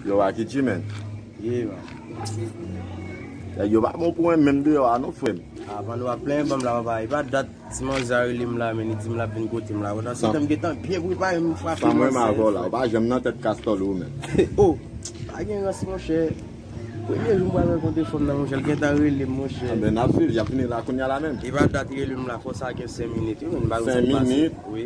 Yo a ki chimèn? Ye man. Nèg yo pa bon pou mwen menm deyò a non frèm. A pandan wap plenyen banm la papa epa dat ti manzè a relem la men li dim lap vin kotem la pandan se tan m gentan byen prepare m frape manzè. Sa m renmen avèw la ou pa janm nan tèt kastòl ou menm. Oh pa gen rans monchè premye jou m pral rankontre fanm nan monchè l gentan relem monchè. Anben nap swiv yap fini la kounya la menm. Epa dat relem la fò sa gen 5 minit wi men m pa wè sa k pase. 5 minit? Wi.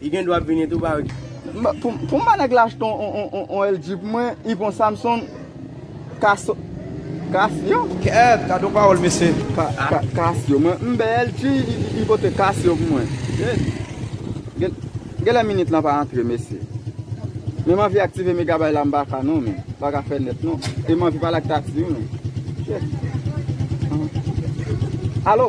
Li gen dwa ap vini tou ba wi. Pou ba nèg la achte yon LG pou mwen y pou yon Samsung Casio. Kèèt gad yon pawòl mesye. Casio mwen mnbe LG y pote Casio pou mwen. Genlè minit lan pa antre mesye. Men m anvi aktive megabay la m pa ka non men. M pa ka fè nèt non. E m anvi pale ak Tatie wi men. Alo.